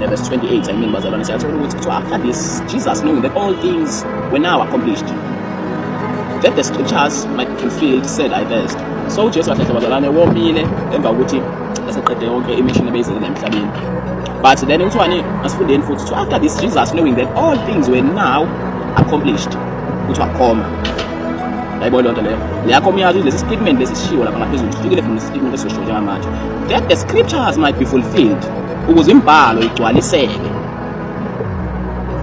The verse 28, I mean, bazalwane siyathola ukuthi kuthiwa after this Jesus knowing that all things were now accomplished that the scriptures might be fulfilled said I thirst so uJesu wahlahla bazalwane womile emva kokuthi eseqede yonke imission ebeyizele emhlabeni but then kuthiwani asifundeni futhi so after this Jesus knowing that all things were now accomplished kuthiwa khoma yayibona loo nto leyo leyakho umyazi lesi statement lesishiwo lapha ngaphezulu sifikile from lesi statement esisho njengamanje that the scriptures might be fulfilled ukuze imibhalo igcwaliseke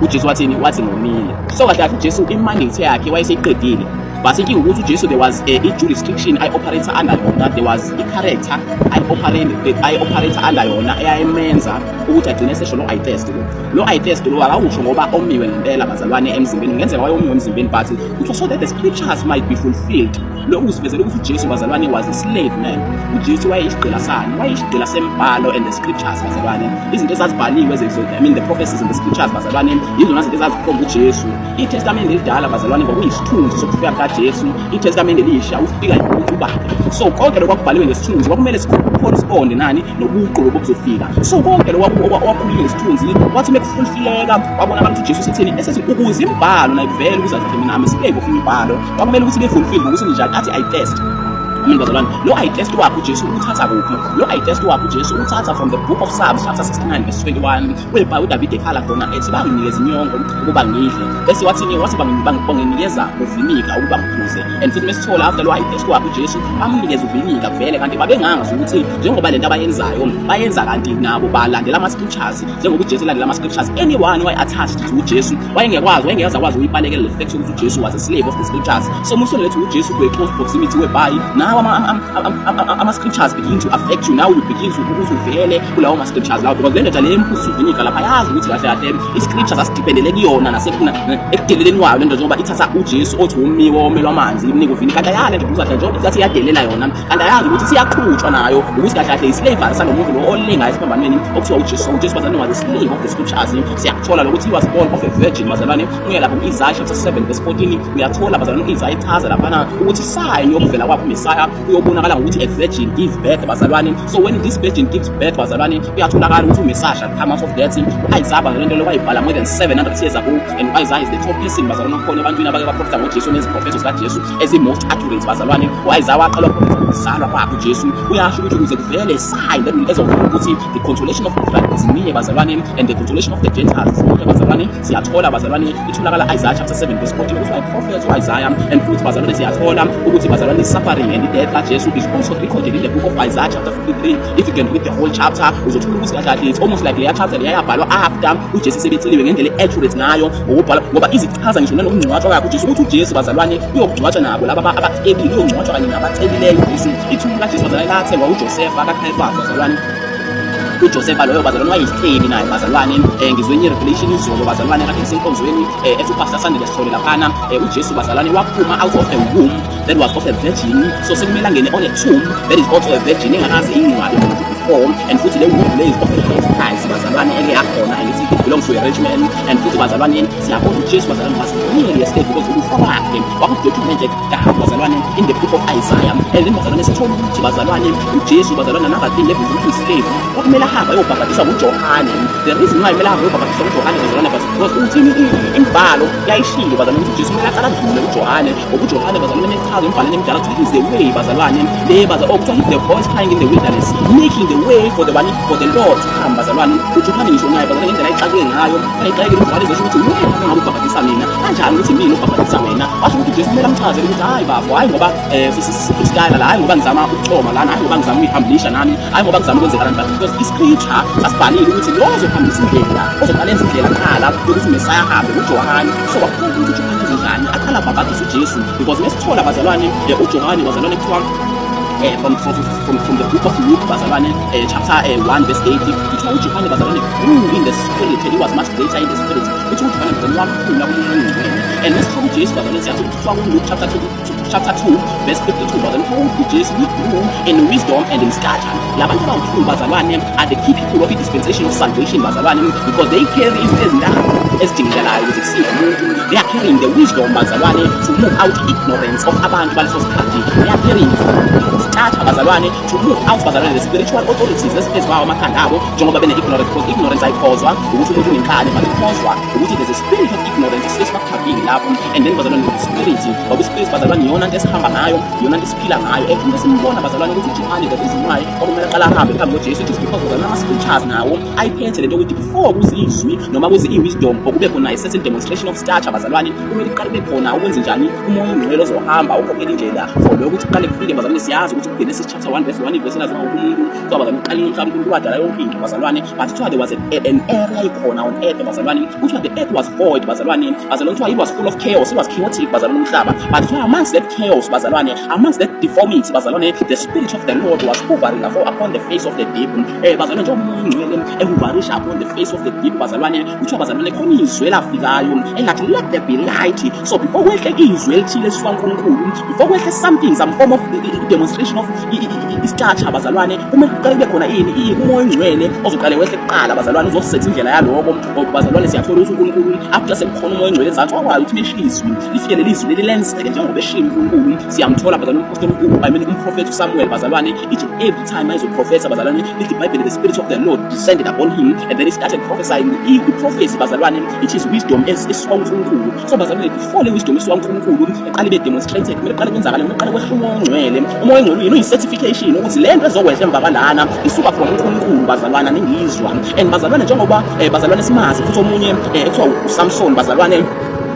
uJesu wathini wathi ngomile so kahle kahle uJesu imandate yakhe wayeseyiqedile but inkinga ukuthi uJesu there was a eh, i-jurisdiction ayi-operator under yona there was i-character ayi-operator under yona eyayimenza ukuthi agcine esesho lo eye test lo lo eye test lo akawusho ngoba omiwe ngempela bazalwane emzimbeni kungenzeka wayomiwe emzimbeni but so that the scriptures might be fulfilled lokhu kusivezela ukuthi ujesu bazalwane was a slave man ujesu wayeyisigqila sani wayeyisigqila sembhalo and the scriptures bazalwane izinto ezazibhaliwe i mean the prophecies and the scriptures bazalwane yizona zinto ezazikhomba ujesu itestamente elidala bazalwane kwakuyisithunzi sokufika kukajesu itestamente elisha ufika ukuthi ubakhe so konke lokhu kwakubhaliwe ngesithunzi kwakumele sikhona isiqonde nani nobuqu lobo buzofika so konke lokhu okwakhulunywe ngesithunzi wathi uma kufulfileka wabona abantu ujesu setheni esethi ukuze imbhalo nayivele ukuzazimina amesileke ofuna imbhalo kwakumele ukuthi befulfil ngokuthi ninjani athi i test mina bazalwane lo i test wakhe ujesu uthatha kuphi lo i test wakhe ujesu uthatha from the book of psalms chapter 69 verse 21 webhayi udavide ekhala khona ethi banginikeza inyongo ukuba ngidle bese wathini wathi banginikeza uvinika ukuba ngiphuze and futhi mesithola after lo i test wakhe ujesu bamnikeza uvinika vele kanti babengangazi ukuthi njengoba le nto abayenzayo bayenza kanti nabo balandela ama-scriptures njengoba uJesu elandela ama-scriptures anyone who attached to uJesu wayengekwazi wayengeyazi akwazi ukuyibalekela le fact yokuthi uJesu was a slave of the scriptures so musone lethu uJesu to a close proximity whereby now ama-scriptures begin to affect you now you begin to ukuthi uvele kulawo ma-scriptures lawo because le ndoda le emphuzisa uvinika lapha yazi ukuthi kahle kahle i-scriptures asidipendele kuyona nasekuna ekudeleleni wayo le nto njengoba ithatha uJesu othi womiwe womelwa amanzi imnika uvinika kanti ayale nje kuzahle njengoba ithatha iyadelela yona kanti ayazi ukuthi siyaqhutshwa nayo ukuthi kahle kahle islavery salomuntu lo olinga esiphambanweni okuthiwa ujesu ujesu was was a slave of the scriptures siyakuthola lokuthi he was born of a virgin bazalwane uye lapho ku-isaya chapter 7 verse 14 uyathola bazalwane u-isaya echaza laphana ukuthi sign yokuvela kwakho umesaya uyobonakala ngokuthi a virgin give birth bazalwane so when this virgin gives birth bazalwane kuyatholakala ukuthi umesaya shall come out of death u-isaya bazalwane into lokwayibhala more than 700 years ago and u-isaya is the top person bazalwane okhona ebantwini abake baprofitha ngojesu neziprofetho zikajesu as a most accurate bazalwane u-isaya waqala ukuzalwa kwakhe ujesu uyasho ukuthi ukuze kuvele sign that ezovuma ukuthi the consolation of israel is near bazalwane and the consolation of the gentiles is near bazalwane siyathola bazalwane itholakala isaiah chapter 7 verse 14 ukuthi i prophet u-isaya and futhi bazalwane siyathola ukuthi bazalwane suffering and death kajesu is also recorded in the book of isaiah chapter 53 if you can read the whole chapter uzothola ukuthi kahle kahle it's almost like leya chapter leyayabhalwa after ujesu sebetheliwe ngendlela e-accurate ngayo ngokubhala ngoba izichaza ngisho nanokungcwatshwa kakho uJesu ukuthi uJesu bazalwane uyokugcwatshwa nabo laba abacebile uyongcwatshwa kanye nabacebileyo uJesu ithumbu likaJesu bazalwane lathengwa uJosefa kaKhayifasi bazalwane uJosefa loyo bazalwane wayisitheni naye bazalwane eh, ngizwenye irevelation izolo bazalwane kade ngisenkonzweni eh, ethi upastor Sandile Sithole laphana eh, uJesu bazalwane waphuma out of a womb that was of a virgin so sekumele angene on a tomb that is also a virgin engakaze ingcwabe umuntu before and futhi leyo muntu leyo of a late price bazalwane eke yakhona and it belongs to a rich man and futhi bazalwane siyabona uJesu bazalwane basibonile yesterday because ukufa kwakhe wakudocumente kahle bazalwane in the book of Isaiah and then bazalwane sithola ukuthi bazalwane uJesu bazalwane another thing level ukuthi uyislave kwakumele ahambe ayobhabhadiswa nguJohane the reason why kumele ahambe ayobhabhadiswa nguJohane bazalwane because uthini imbhalo yayishilo bazalwane ukuthi uJesu kumele aqala adlule uJohane ngobujohane bazalwane nechazo embhaleni emdala kuthiwa he's the way bazalwane le baza oh kuthiwa he's the voice crying in the wilderness making the way for the bani for the lord to come bazalwane ujohane ngisho naye bazalwane ngendlela ayixakwe ngayo ayixakile ujohane zesho ukuthi wena ngabe ubhabhadisa mina kanjani ukuthi mina ubhabhadisa wena washo ukuthi ujesu kumele amchazele ukuthi hayi bafo hayi ngoba um sisitayela la hayi ngoba ngizama ukuchoma lana hayi ngoba ngizama ukuyihambisha nami hayi ngoba ngizama ukwenzeka lani because iscripture sasibhalile ukuthi lo ozohambisa indlela ozoqala enza indlela khala yokuthi mesaya ahambe ujohane so wakhona ukuthi kanjani aqala bhabhadisa uJesu because mesithola bazalwane eh, uJohane bazalwane kuthiwa eh, from, from, from, from the book of Luke bazalwane eh, chapter eh, 1 verse 8 kuthiwa uJohane bazalwane grew in the spirit he was much greater in the spirit kuthiwa uJohane bazalwane wakhula kumuntu ongcwele and mesithola uJesu bazalwane siyathi kuthiwa kuLuke chapter 2 chapter 2 verse 52 but then told the Jews with room in wisdom and in stature labantu abawuthulu bazalwane are the key people of the dispensation of salvation bazalwane because they carry izinto ezintathu ezidingekalayo ukuze kusize umuntu they are carrying the wisdom bazalwane to move out the ignorance of abantu baleso sikhathi they are carrying stature bazalwane to move out bazalwane the spiritual authorities eziphezu kwawo amakhanda abo njengoba bene-ignorance because ignorance ayikhozwa ukuthi umuntu unenkani but ikhozwa ukuthi there's a Then you have ignorance sihlezi bakugabhile lapho and then bazalwane ngespirit ngoba ispirit bazalwane iyona nto esihamba ngayo iyona nto esiphila ngayo every nto esimbona bazalwane ukuthi ujimane that is why okumele aqala ahambe phambi kojesu it is because bazalwane ama-scriptures nawo ayiphethe le nto ukuthi before kuze izwi noma kuze i-wisdom or kube khona i-certain demonstration of stature bazalwane kumele kuqale kube khona ukwenze njani umoya ongcwele ozohamba ukhokhela indlela for lokho ukuthi kuqale kufike bazalwane siyazi ukuthi kugene sisitshe chapter 1 verse 1 verse nazo uNkulunkulu kwaba kamqaleni mhlawumbe uNkulunkulu wadala yonke into bazalwane but kuthiwa there was an, an area ikhona on earth bazalwane kuthiwa the earth was void bazalwane bazalwane kuthiwa it was full of chaos it was chaotic bazalwane umhlaba but kuthiwa amongst that chaos bazalwane amongst that deformity bazalwane the spirit of the Lord was hovering upon the face of the deep eh bazalwane njengoba umngcwele ehuvarisha upon the face of the deep bazalwane kuthiwa bazalwane khona izwi elafikayo engathi let there be light so before kwehle izwi elithile sikankulunkulu before kwehle something some form of demonstration of isitatsha bazalwane kumele kuqale kube khona ini ini umoya ongcwele ozoqale wehle kuqala bazalwane uzosetha indlela yaloko ngoba bazalwane siyathola ukuthi unkulunkulu after sekukhona umoya ongcwele ezansi wakwazi ukuthi meshiye izwi lifike leli zwi leli lenzeke njengoba eshiye unkulunkulu siyamthola bazalwane umprofethi usamuel bazalwane ithi time as a professor bazalwane lithi ibhayibheli the spirit of the lord descended upon him and then he started prophesying i-prophecy bazalwane it is wisdom esisuka unkulunkulu so bazalwane kufole wisdom esisuka unkulunkulu eqale ibe demonstrated kumele qale kwenzakale kumele qale kwehla umoya ongcwele umoya ongcwele uyini uyi-certification ukuthi le nto ezokwehla emva kwalana isuka from unkulunkulu bazalwane ningizwa and bazalwane njengoba eh, bazalwane simazi futhi omunye eh, ekuthiwa usamson bazalwane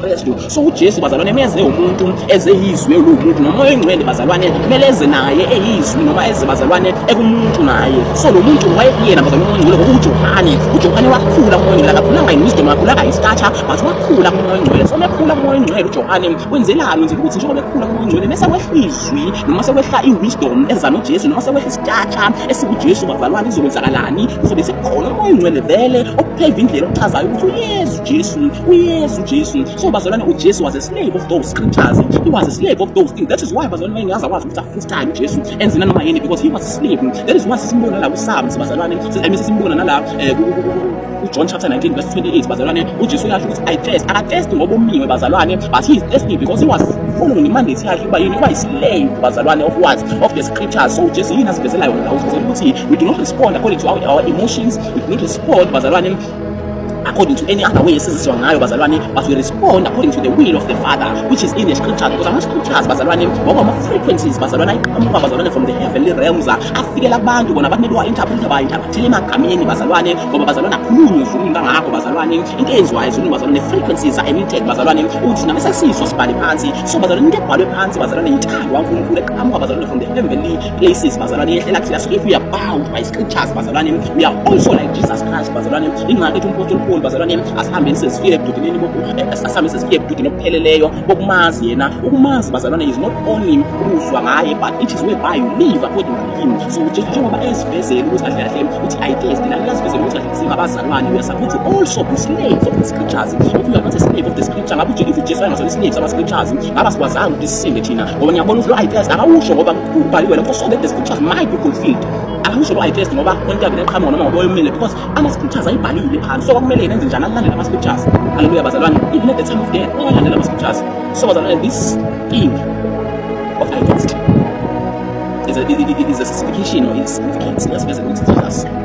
Kristu. So uJesu bazalwane meze umuntu eze yizwe lokuthi nomoya oyingcwele bazalwane kumele eze naye eyizwi noma eze bazalwane ekumuntu naye. So lo muntu wayekuyena bazalwane oyingcwele ngoba uJohane. uJohane wakhula umoya oyingcwele akakhulanga yiwisdom akakhulanga yistacha but wakhula umoya oyingcwele. So mekhula umoya oyingcwele uJohane wenzelani wenzela ukuthi njengoba ekhula umoya oyingcwele mese kwehla izwi noma sekwehla iwisdom eza noJesu noma sekwehla istacha esikuJesu bazalwane izokwenzakalani kuzobe sekukhona umoya oyingcwele vele okupheva indlela okuchazayo ukuthi uYesu Jesu, uYesu Jesu. So bazalwane uJesu was a slave of those scriptures. He was a slave of those things. That is why bazalwane mayengaze akwazi ukuthi afreestyle uJesu enze nanoma yini because he was a slave. That is why sisimbona la kuSams bazalwane. Emi sisimbona nala eh, uJohn chapter 19 verse 28 bazalwane uJesu uyasho ukuthi I test. Akatesti ngoba umiwe bazalwane but he is testing because he was following imandate yakhe uba yini uba islave bazalwane of what of the scriptures so uJesu yini asivezelayo la usivezela ukuthi we do not respond according to our, our emotions we do not respond bazalwane according to any other way esiziswa ngayo bazalwane but we respond according to the will of the father which is in the scriptures because ama-scriptures bazalwane ngoba ama-frequencies bazalwane ayiqhamuka bazalwane from the heavenly realms afikela abantu bona abantu mele wa-interprete ba-interprethele emagameni bazalwane ngoba bazalwane akhulunywe ezulwini kangakho bazalwane into eyenziwayo ezulwini bazalwane frequencies are emitted bazalwane ukuthi thina mesesizwa sibhale phansi so bazalwane into ebhalwe phansi bazalwane yintando kankulunkulu eqhamuka bazalwane from the heavenly places bazalwane yehlela kuthi yasuke if we are bound by scriptures bazalwane we are also like Jesus Christ bazalwane ingakho ethi umphostoli Paul bazalwane asihambeni sesifike ebududineni asihambeni sesifike ebududini obupheleleyo bokumazi yena ukumazi bazalwane is not only ukuzwa ngaye but it is whereby you live according to him so njengoba esivezele ukuthi kahle kahle uthi i taste nami nasivezele ukuthi singabazalwane we are supposed to also be slaves of the scriptures if you are not a slave of the scripture ngabe ujike ifu Jesu ayengazona slaves ama scriptures ngaba sikwazanga ukuthi sisinde thina ngoba ngiyabona ukuthi lo IPS akawusho ngoba ubhaliwe lapho so that the scriptures might be fulfilled akawusho lo IPS ngoba onke abene qhamuka noma ngoba oyomile because ama scriptures ayibhalile phansi so kwakumele yena enze njani alandele ama scriptures haleluya bazalwane even at the time of death ungalandela ama scriptures so bazalwane this thing of IPS is a, is a, is a specification or is significance. That's basically what it is.